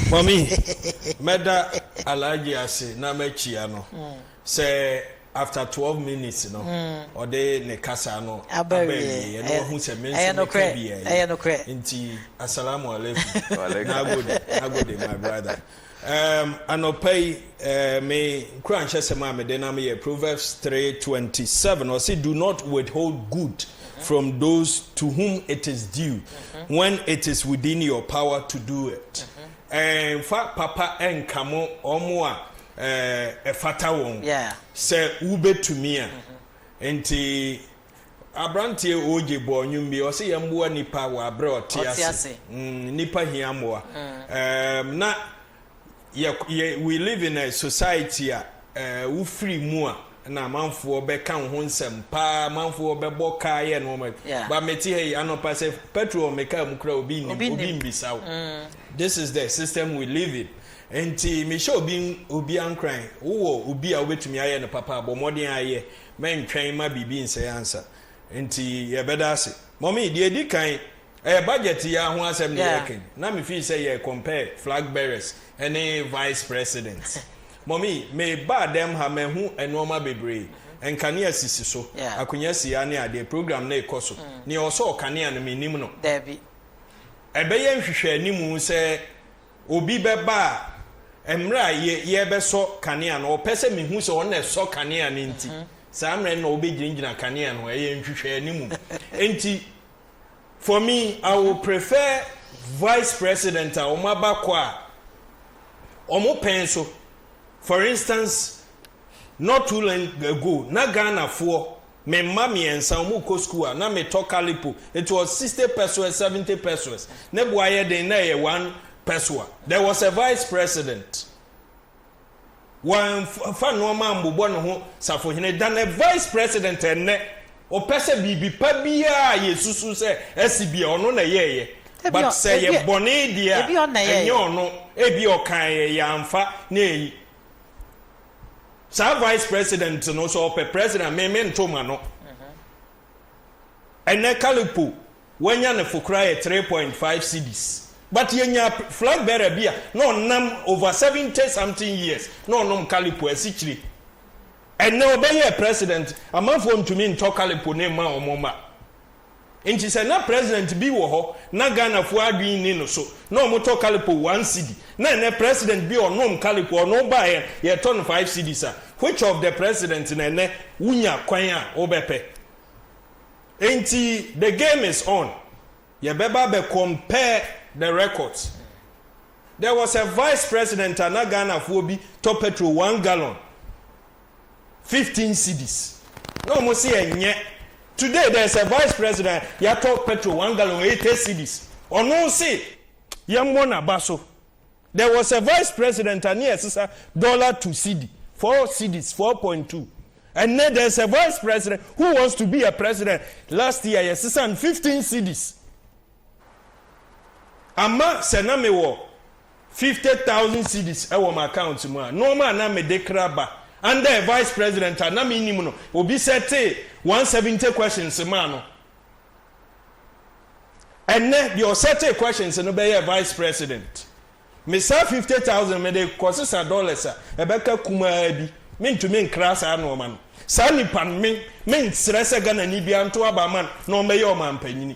Mami, mɛda Alhaji ase na makyia no sɛ after twelve minutes no ɔde ne kasa no aba awieɛ na wahu sɛ me nso meka bi awie nti Assalamu alaikum. Nagode, nagode my brother. Um, anɔpa yi Me nkuranhyɛsɛm a mede nam yɛ Proverbs three twenty seven. Ɔsi, Do not withhold good from those to whom it is due mm-hmm. when it is within your power to do it. Mm-hmm. Nfa papa nka mo wɔn a ɛfata wɔn sɛ wobɛtumi a. Mm-hmm. Nti aberanteɛ ogye bɔɔ nnwom bi ɔsɛ yɛn mmoa nipa wɔ aberɛ ɔte ase mm, nipa hia mmoa mm. na yɛ yɛ we live in a society a eh, wofiri mu a na amanfoɔ bɛka wo ho nsɛm paa amanfoɔ bɛbɔ kaa yɛ nnoɔma yeah. ba mete ha yi anɔpa sɛ petrol me kaa mu kora obi nim obi mbisa wo mm. this is the system we live in nti mehyɛ obi obi ankoran wowɔ obi a wobɛtumi ayɛ no papa abɔ mmɔden ayɛ mɛntwɛn ma biribi nsɛe ansa nti yɛbɛda ase Mummy, deɛ ɛdi kan, ɛyɛ budget yi ara ho asɛm na yɛreka yi, na me feel sɛ yɛ compare flag bearers ne vice president. Mummy, me baa dɛm ha, mahu nnoɔma bebree, nkanea sisi so, akonwa si ha ne adeɛ, program no rekɔ so, nea ɔsɔɔ kanea no mennim no. Ɛbɛyɛ nhwehwɛ animu sɛ. obi bɛba a, mmerɛ a yɛrebɛsɔ kanea no, ɔpɛ sɛ mehu sɛ ɔno na ɛsɔ kanea no nti, saa mmerɛ no na ɔbɛgyinagyina kanea no ho. Ɛyɛ nhwehwɛani mu. Nti, for me, I will prefer vice president a wɔn abakɔ a wɔpɛn so. For instance, Not too long ago na Ghana foɔ, me mma mmiɛnsa wɔn rekɔ sukuu a na me tɔ kalipo, it was sixty pesewas, seventy pesewas, ne bo ayɛ den na ɛyɛ one pesewa, there was a vice president, wɔamfa nnoɔma ammobɔ ne ho safohene than a vice president ɛnnɛ, ɔpɛ sɛ biribi pa biara a yɛsusu sɛ asi bi a ɔno na ɛyɛeɛ, but sɛ ɛyɛ bɔne deɛ a ɛnyɛ ɔno, ebia ɔkaeɛ yɛamfa ne ɛyi. saa vice president no sɛ ɔpɛ president me me nto ma no ɛnɛ kalipo wanya ne fo koraa yɛ three point five cds but yɛnya flag bearer bi a na ɔnam over seventy something years na ɔnom kalipo asikyire ɛnɛ ɔbɛyɛ president amanfoɔ ntumi ntɔ kalipo ne mma wɔn mma. Nti sɛ na president bi wɔ hɔ na Ghana foɔ adwene nni no so na ɔmo tɔ kalipo one cedi na ɛnɛ president bi ɔnom kalipo ɔno baeɛ yɛtɔ no five cedis a which of the president na ɛnɛ wo nya kwan a wo bɛ pɛ nti the game is on yɛ bɛ ba bɛ compare the records there was a vice president a na Ghana foɔ bi tɔ petrol one gallon Fifteen cedis na ɔmo se ɛnyɛ today there is a vice president yatɔ petrol one gallon ɛyɛ ten cedis ɔno se yɛmmɔ naba so there was a vice president a ne ɛsesa dollar to cedi four cedis four point two ɛnɛ there is a vice president who wants to be a president last year yɛsesa no fifteen cedis. Ama sɛ na mewɔ fifty thousand cedis wɔ m'account mu a, nnoɔma a na mede kra ba under a vice president a na mennim no, obi sɛtee one seventy questions maa no. Ɛnnɛ, deɛ ɔsɛtee questions no bɛyɛɛ vice president. Me saa fifty thousand mede kɔsesa dollars a ɛbɛka kumaa bi. Mentumi nkra saa nnoɔma no. Saa nipa no, me, mensrɛ sɛ Ghanani biara nto aba mma no na ɔmmɛyɛ ɔmampanyini.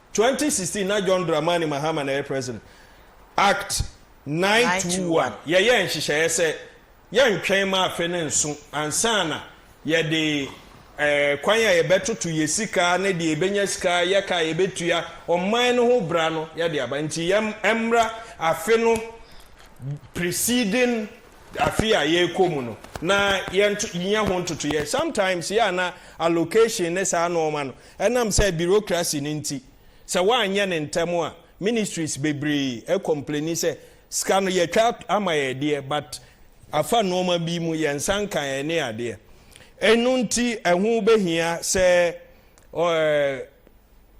Twenty sixteen na John Dramani Mahama na ɛyɛ president. Act nine two one yɛyɛɛ nhyehyɛeɛ sɛ yɛntwɛn ma afe no nso ansa na yɛde kwan a yɛbɛtoto yɛn sika ne deɛ yɛbɛnya sika yɛ ka a yɛbɛtua ɔman no ho bra no yɛde aba nti yɛm ɛmmra afe no preceding afe a yɛrekɔ mu no na yɛnyɛ ho ntotoyɛ sometimes yɛ a na allocation ne saa nneɛma no Ɛnam sɛ bureaucracy no nti, sɛ woanyɛ no ntɛm a, ministries bebree complaini sɛ, Sika no yɛatwa ama yɛn deɛ, but afa nnoɔma bi mu, yɛn nsa nka yɛn ne adeɛ. Ɛno nti ɛho bɛhia sɛ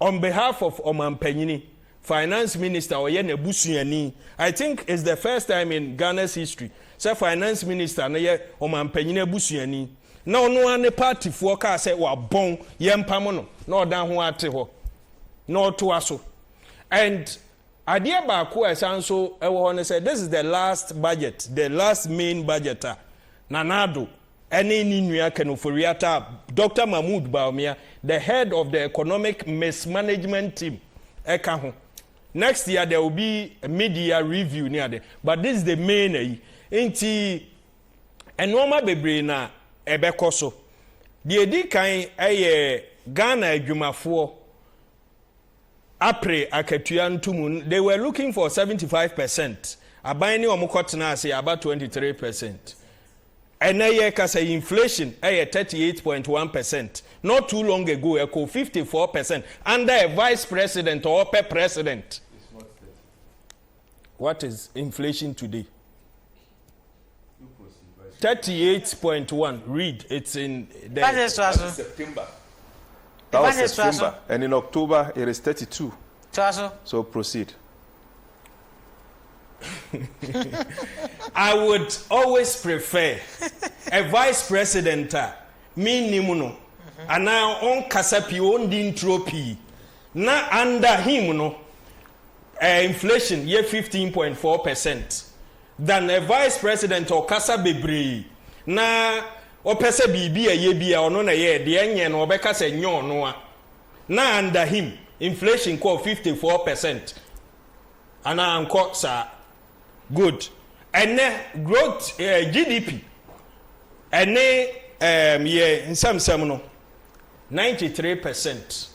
on behalf of Ɔmampanyini, Finance Minister ɔyɛ n'abusuani. I think it's the first time in Ghana's history sɛ Finance Minister no yɛ Ɔmampanyini abusuani. na ɔno ara ne paatifoɔ kaa sɛ wabɔn, yɛmpamo no, na ɔdan ho ara te hɔ, na ɔtoa so. And adeɛ baako a ɛsan nso wɔ hɔ ne sɛ, this is the last budget, the last main budget a Nana Addo ne ne nua Ken Ofori-Atta, Doctor Mahmood Bawumia, the head of the economic mismanagement team ɛka ho. Next year there will be mid-year review ne ade, but this is the main ayi. Nti nnoɔma bebree na ɛbɛkɔ so. Deɛ ɛdi kan yɛ Ghana adwumafoɔ apere akatua ntomu. They were looking for 75 percent. Aban ne wɔn kɔtena ase aba 23 percent. Ɛnɛ yɛ kasa inflation ɛyɛ 38.1 percent. Not too long ago ɛkɔ 54 percent under a vice president ɔɔpɛ president. what is inflation today? 38.1 read it's in the September that was September and in October it is 32 so proceed I would always prefer a vice president a mennim no anaa ɔnkasa pii ɔndi nturo pii na under him no Inflation yɛ fifteen point four percent than a vice president ɔkasa bebree na ɔpɛ sɛ biribi a ɛyɛ bi a ɔno na ɛyɛɛ deɛ ɛnyɛ no ɔbɛka sɛ ɛnyɛ ɔno a na under him inflation kɔɔ fifty four percent anaa ankɔ saa good ɛnɛ growth eh, GDP ɛne eh, yɛ nsɛmsɛm no ninety three percent.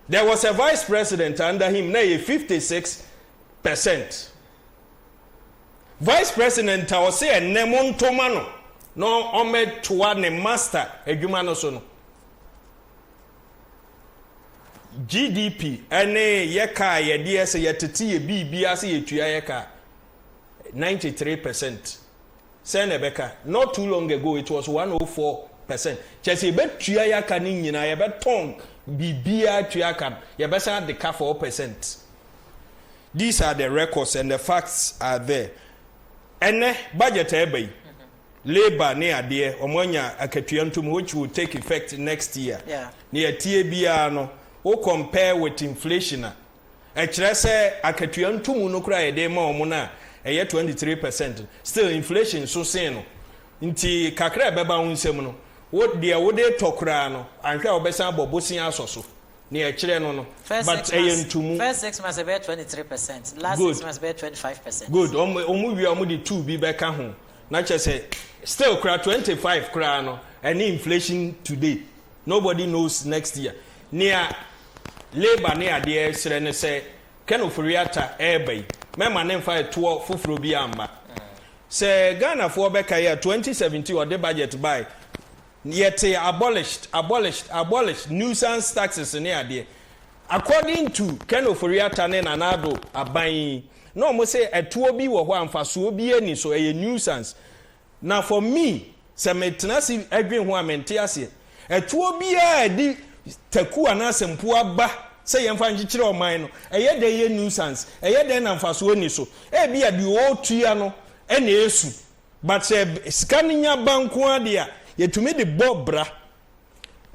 There was a vice president under him, na ɛyɛ 56 percent. Vice president a ɔse ɛnnɛ mo ntoma no na ɔmɛtoa ne master adwuma no so no. GDP ɛne yɛ kaa yɛdeɛ sɛ yɛtete yɛ biribi ase yɛtua yɛ kaa 93 percent. Sɛn na ɛbɛka? Not too long ago it was one oh four percent. Kyerɛ sɛ yɛbɛtua yɛaka no nyinaa, yɛbɛtɔn biribiara atua aka no, yɛbɛsan de ka four percent. These are the records and the facts are there. Ɛnnɛ, budget a ɛreba yi, labour ne adeɛ, wɔn anya akatua ntom which will take effect next year. Yeah. Nea ɛteɛ biara no, wo compare with inflation a, Ɛkyerɛ sɛ akatua ntomu no koraa a yɛde rema wɔn no a ɛyɛ twenty three percent no, still inflation so sen no. Nti kakra a ɛbɛba wo nsam no, wo deɛ wode retɔ koraa no, anhwɛ a wobɛsan abɔ bosea asɔ so. Nea ɛkyerɛ no no, First but six ɛyɛ months, ntomu. first six months ɛbɛyɛ twenty three percent, last six Good. months ɛbɛyɛ twenty five percent. Good. Wɔn wɔn wie a wɔde two bi bɛka ho. Na kyerɛ sɛ still koraa twenty five koraa no, ɛne inflation today. Nobody knows next year. Nea Labour ne adeɛ ɛreserɛ ne sɛ Ken Ofori Atta ɛreba yi mɛma ne nfa ɛtoɔ foforɔ biara mma. Sɛ Ghanafoɔ bɛkae a 2017 ɔde budget bae no yɛtee abolished, abolished, abolished, nuisance taxes ne adeɛ. According to Ken Ofori Atta ne Nana Addo aban yi na wɔn se ɛtoɔ bi wɔ hɔ a mfasoɔ biara nni so, ɛyɛ nuisance. Na for me sɛ me tena ase dwen ho a me nte aseɛ. Ɛtoɔ biara a ɛde taku anaa sɛmpoa ba sɛ yɛmfa nkyekyere ɔman no, ɛyɛ dɛn yɛ nuisance? Ɛyɛ dɛn na mfasoɔ nni so? Ebia deɛ ɔretua no na ɛresu, but sɛ sika no nya ba nko ara deɛ a, yɛtumi de bɔ bra.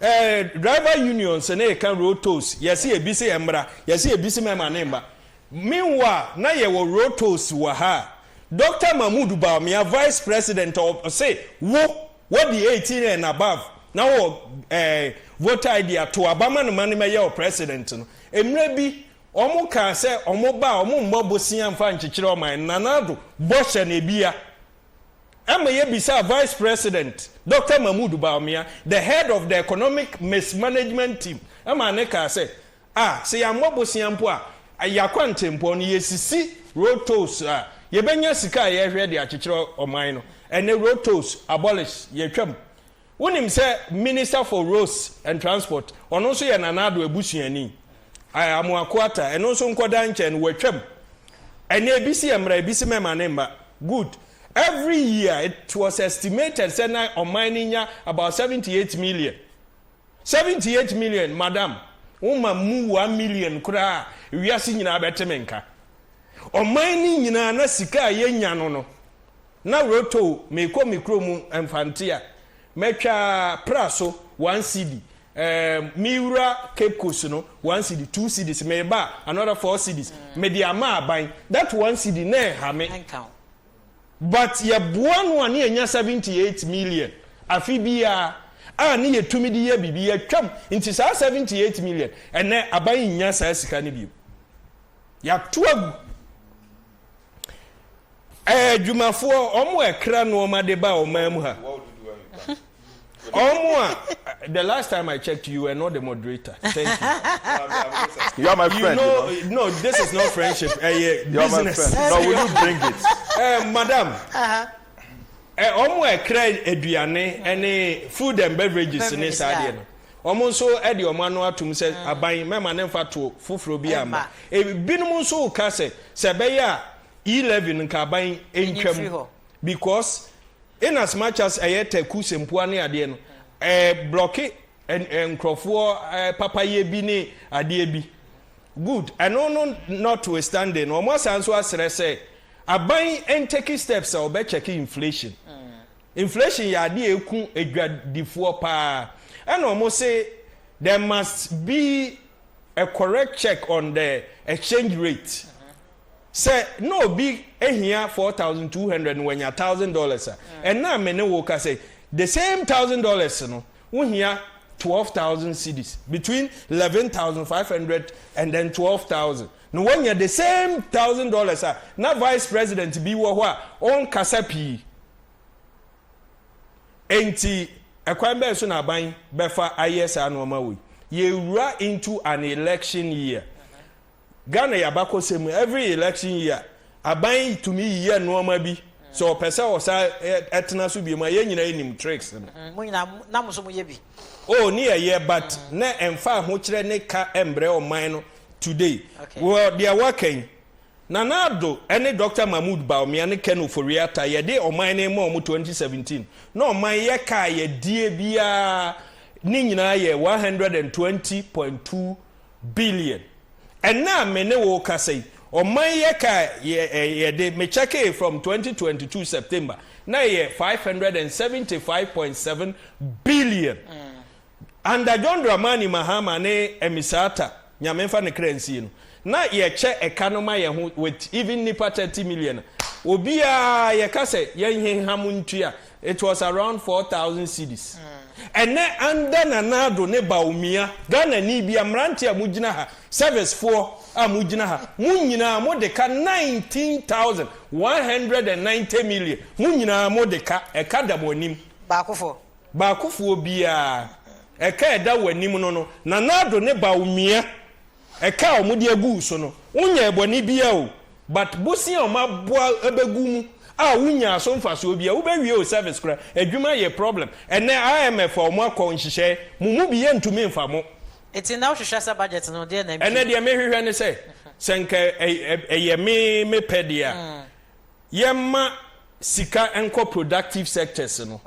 Eh driver union se na yɛka road tolls yɛse ebi se ɛmmra yɛse ebi se mɛma ne mma meanwhile na yɛwɔ road tolls wɔ ha a Doctor Mahmood Bawumia vice president ɔse wo wadi 18 and above na wowɔ eh voter ID a to aba ma no ma no mɛyɛ wo president no mmerɛ bi wɔn kaa sɛ wɔn ba a wɔn mmɔ bosea mfa nkyekyere ɔman no Nana Addo bɔhyɛ no ebia ama yebisaa Vice President Dɔkta Mahmood Bawumia, the head of the Economic Mismanagement Team, ma ne kaa sɛ, A, sɛ yɛammɔ bosea mpo a, yɛn akwantempɔn no, yesisi road tolls a, yebenya sika a yɛhwɛ de akyekyere ɔman no. Ɛnnɛ road tolls abolish, yɛatwam. Wonim sɛ Minister for Roads and Transport, ɔno nso yɛ Nana Addo abusuani, Amoako Atta, ɛno nso nkɔdaa nkyɛn no, wɔatwam. Ɛnnɛ ebi se yɛ mmra, ebi se mɛma ne mma. Good. Every year it was estimated sɛ na ɔman no nya about seventy eight million. Seventy eight million, Madam, woma mmu one million koraa a, wiase nyinaa bɛte me nka. Ɔman no nyinaa na sika a yɛnya no no, na roto meekɔ me kuro mu Mfante a, mɛtwa pra so one cedi ehm meewura Cape Coast no one cedi two cedis meeba a another four cedis mede ama aban that one cedi na ɛnha me but yɛboa no a ne yɛnya seventy eight million afe biara a ne yɛtumi de yɛ biribi yɛtwam nti saa seventy eight million ɛnnɛ aban nnya saa sika no bio yɛato agu Ɛɛ adwumafoɔ ɔmo a ɛkra nnoɔma de ba ɔman mu ha ɔmo a the last time I checked you were not the moderator thank you you are my friend you know, you know? no this is not friendship ɛyɛ uh, business no will you bring it uh, madam ɔmo a ɛkra aduane ɛne food and beverages ne saa deɛ no Wɔn nso de wɔn ano atom sɛ aban mɛma ne mfatoɔ foforɔ biara mma. Ebinom nso reka sɛ, sɛ ɛbɛyɛ a E-levy no nka aban ntwa mu because in as much as ɛyɛ taku sɛmpoa ne adeɛ no, ɛreblɔke nkurɔfoɔ papayɛ bi ne adeɛ bi. Good, ɛno no notwithstanding no, wɔasan nso asrɛ sɛ aban ntake steps a wɔbɛkyɛke inflation Inflation yɛ adeɛ a ɛku adwadifoɔ paa ɛna wɔn se there must be a correct check on the exchange rate sɛ na obi hia four thousand two hundred na wanya thousand dollars a ɛna me ne wo kasa yi the same thousand dollars no wo hia twelve thousand cedis between eleven thousand five hundred and then twelve thousand na wanya the same thousand dollars a na vice president bi wɔ hɔ a ɔnkasa pii Enti, ɛkwan bɛn so na aban bɛfa ayɛ saa nnoɔma wei? Yɛrewura into an election year. Ghana yɛ abakɔsɛm mu, every election year, aban tumi yiyɛ nnoɔma bi sɛ ɔpɛ sɛ ɔsan ɛtena so biom a, yɛn nyinaa yɛnim tricks no. Mm, mo nyinaa, na mo so mo yɛ bi. O, ne yɛyɛ, but mm. na ɛmfa ahokyerɛ ne ka mbrɛ ɔman no today. Okay. Wɔ deɛ waka yi, Nana Addo ne Dɔkta Mahmood Bawumia ne Ken Ofori-Atta yɛde ɔman no rema wɔn twenty seventeen na ɔman yɛ kaa yɛdeɛ biara ne nyinaa yɛ one hundred and twenty point two billion ɛnnɛ a me ne wo rekasa yi ɔman yɛ kaa yɛde me kyɛkee from twenty twenty two September na ɛyɛ five hundred and seventy five point seven billion Under John Dramani Mahama ne Amissah Atta, Nyame nfa ne kra nsie no, na yɛkyɛ ɛka no ma yɛn ho with even nnipa thirty million a, obiara yɛka sɛ yɛnheha mo ntua, it was around four thousand cedis. Ɛnnɛ under Nana Addo ne Bawumia, Ghanani bia, mmeranteɛ a mogyina ha, service foɔ a mogyina ha, mo nyinaa mode ka nineteen thousand one hundred and ninety million, mo nyinaa mode ka, ɛka da mo anim. Baakofoɔ, Baakofoɔ biara, ɛka a ɛda w'anim no no. Nana Addo ne Bawumia, ɛka a wɔde agu wo so no, wonyɛɛ bɔne biara o, but bosea a wɔaboa abɛgu mu a wonyaa so mfasoɔ biara, wobɛwie wo service koraa, adwuma yɛ problem. Ɛnnɛ IMF a wɔakɔ nhyehyɛe, mo mu bi yɛntumi mfa mo. Nti nnɛ wohwehwɛ sɛ budget no, deɛ na ntwi? Ɛnnɛ deɛ mehwehwɛ ne sɛ, sɛ nka ɛyɛ me pɛ deɛ a, yɛmma sika nkɔ productive sectors no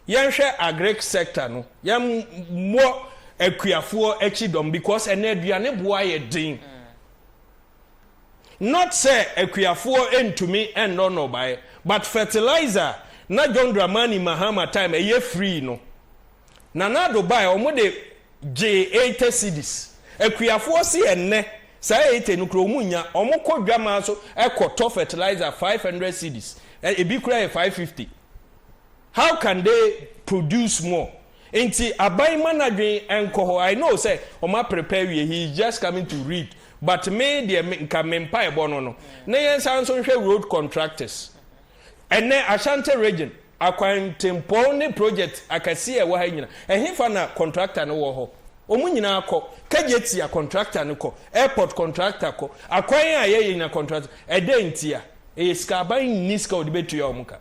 yɛnhwɛ agric sector no yɛmmɔ akuafoɔ akyi dɔm because ɛnɛ aduane boɔ ayɛ den mm. not sɛ akuafoɔ ntumi nnɔ nnɔbaeɛ but fertilizer na John Dramani Mahama time ɛyɛ free no Nana Addo bae a wɔde gyee eite cedis. Akuafoɔ se ɛnnɛ saa eite no koraa wɔnnya. Wɔkɔ dwamaa so kɔ tɔ fertilizer five hundred cedis, ebi koraa yɛ five fifty. How can they produce more? Nti aban mma n'adwene nkɔ hɔ. I know sɛ wɔaprepare awie, he is just coming to read but me deɛ nka me mpaebɔ no no na yɛnsan nso nhwɛ road contractors. Ɛnnɛ, Ashanti Region, akwantempɔn ne projɛt akɛseɛ a ɛwɔ ha yi nyina, ɛhefa na kɔntrakta no wɔ hɔ? Wɔn nyinaa kɔ. Kagyetia kɔntrakta no kɔ. Airport kɔntrakta kɔ. Akwan a yɛyɛ nyina kɔntrakta. Ɛdɛn ntia? Ɛyɛ sika. Aban nni sika a wɔde bɛtua wɔn ka.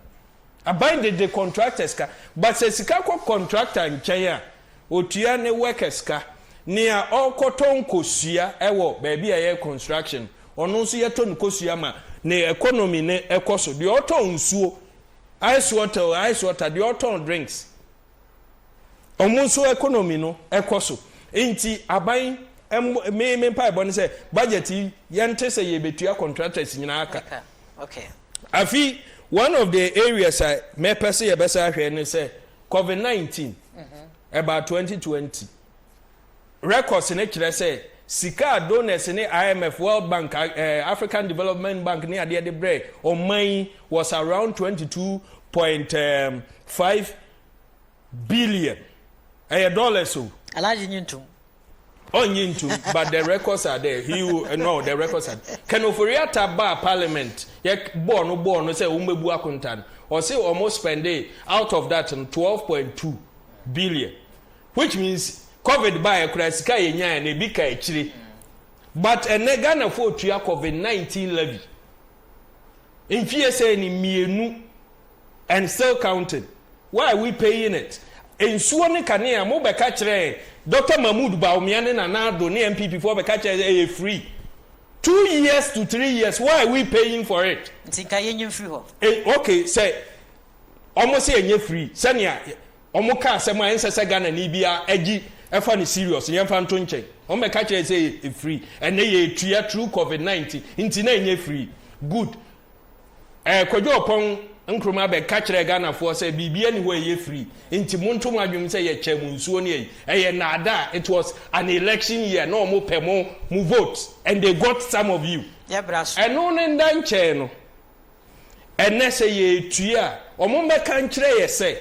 Aban de de kɔntrakta sika. But sɛ sika kɔ kɔntrakta nkyɛn a, Ɔtua ne workers ka. Nea ɔrekɔtɔ nkosua wɔ baabi a yɛyɛ construction, ɔno nso yɛtɔ no kosua ma ne economy no kɔ so. Deɛ ɔtɔn nsuo, ice water o, ice water, deɛ ɔtɔn drinks, wɔn nso economy no kɔ so. Nti aban, me me mpaebɔ ne sɛ budget yi yɛnte sɛ yɛbɛtua contractors nyinaa ka. Afei one of the areas a mɛpɛ sɛ yɛbɛsan ahwɛ ne sɛ Covid nineteen ɛbaa twenty twenty. Records no kyerɛ sɛ sika a donors ne IMF, World Bank, eh, African Development Bank ne adeɛ de brɛ ɔman yi was around twenty two point five billion. Ɛyɛ dollars o. Alhaji nyi ntom. Ɔnye ntum but the records are there he will eh, no the records are Ken Ofori-Atta baa parliament yɛ bɔɔ no bɔɔ no sɛ wɔbɛbu akonta no ɔse wɔn spende out of that no twelve point two billion which means covid baeɛ koraa sika yɛ nyaeɛ no ebi ka akyire but ɛnɛ Ghanafoɔ tua covid nineteen levy. Mfie sɛɛ ni mmienu and still counting, why are we paying it? Nsuo ne kanea mo bɛka kyerɛɛ Doctor Mahmood Bawumia ne Nana Addo ne NPP foɔ bɛka kyerɛɛ sɛ ɛyɛ free. Two years to three years, why are we paying for it? Nti nka yɛnyi mfiri hɔ. Eh, okay, sɛ wɔn se ɛnyɛ free, sɛnea. Ɔmo ka asɛm a ɛnsɛ sɛ Ghanani biaa gye fa no serious, yɛnfa nto nkyɛn. Ɔmo bɛka kyerɛ yɛ sɛ yɛ free, ɛnnɛ yɛretua through covid 19 nti na ɛnyɛ free. Good. Ɛɛ Kwadwo Ɔpɔn Nkrumah bɛka kyerɛɛ Ghanafoɔ sɛ biribiaa nni hɔ a ɛyɛ free, nti monto mo adwenem sɛ yɛkyɛɛ mo nsuo ne ayi. Ɛyɛ nnaadaa, it was an election year, na ɔmo pɛ mo, mo vote, and they got some of you. Yɛbra so. Ɛno ne nda nkyɛɛ no, Ɛnnɛ, sɛ yɛretua a, wɔbɛka nkyerɛ yɛn sɛ,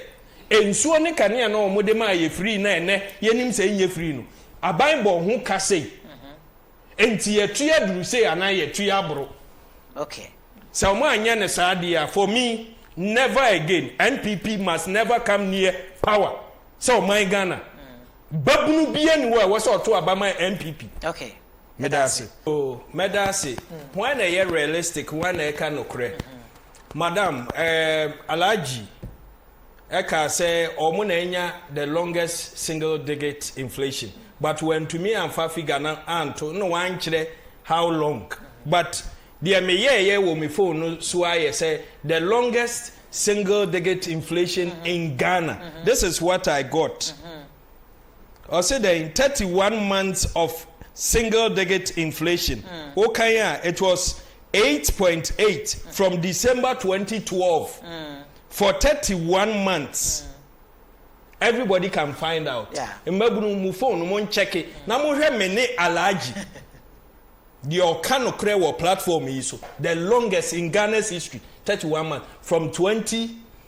Nsuo ne kanea no a wɔde maa yɛn firii no a ɛnnɛ yɛnim sɛ ɛnyɛ firii no, aban bɔɔ ho ka sei, enti yɛatua aduru sei anaa yɛatua aboro. Sɛ wɔanyɛ no saa deɛ a, for me, never again, NPP must never come near power sɛ ɔman Ghana. Babunu biara nni hɔ a ɛwɔ sɛ ɔto aba ma NPP. Meda ase oh mɛda ase Hwan na ɛyɛ realistic hwan na ɛka nokorɛ Madam ehm Alhaji ɛkaa sɛ wɔn na anya the longest single digit inflation but wantumi amfa figure no anto na wankyerɛ how long but deɛ meyɛɛyɛ wɔ me phone no so ara yɛ sɛ the longest single digit inflation in Ghana this is what I got. Ɔse dɛn thirty one months of single digit inflation wo kan a it was eight point eight from December twenty twelve for thirty one months everybody can find out mmabunu mu phone no mo nkyɛke na mo hwɛ me ne Alhaji deɛ ɔka nokorɛ wɔ platform yi so the longest in Ghana's history thirty one months from twenty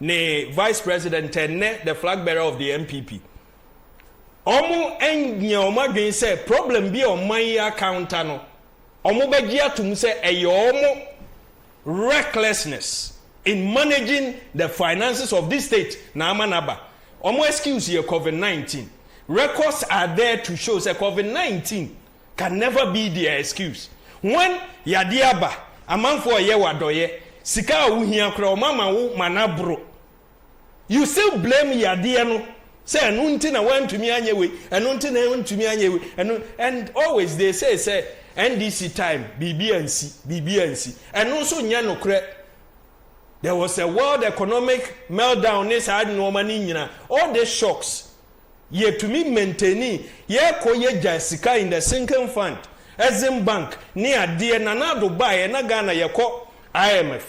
ne vice president and nnɛ the flag bearer of the NPP, wɔannyɛ wɔn adwene sɛ problem bi a ɔman yi akounter no, wɔbɛgye atom sɛ ɛyɛ wɔn recklessness in managing the finances of this state na ama no aba. Wɔn excuse yɛ Covid nineteen. Records are there to show sɛ Covid nineteen can never be their excuse when yadeɛ aba, amanfoɔ reyɛ wo adɔeɛ, sika a wohia koraa wɔn ama wo ma no aboro. You still blame yadeɛ no sɛ ɛno nti na woantumi anyɛ wei, ɛno nti na wontumi anyɛ wei, ɛno and always they say sɛ NDC time biribi ansi, biribi ansi. Ɛno nso nyɛ nokorɛ. There was a world economic meltdown ne saa nnoɔma no nyina, all these shocks yɛtumi maintaini, yɛkɔ yɛgyae sika in the sinking fund, Exim bank ne adeɛ, Nana Addo baeɛ na Ghana yɛkɔ IMF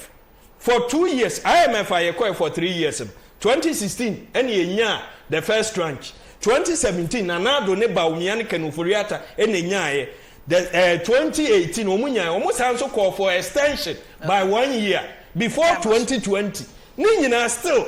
for two years, IMF a yɛkɔɛ for three years no, twenty sixteen ɛna yɛnyaa the first tranche, twenty seventeen Nana Addo ne Bawumia ne Ken Ofori-Atta ɛna ɛnyaaeɛ, the ɛɛ twenty eighteen wɔn nyaaeɛ, wɔn san nso kɔɔ for extension by one year before twenty twenty, ne nyinaa still.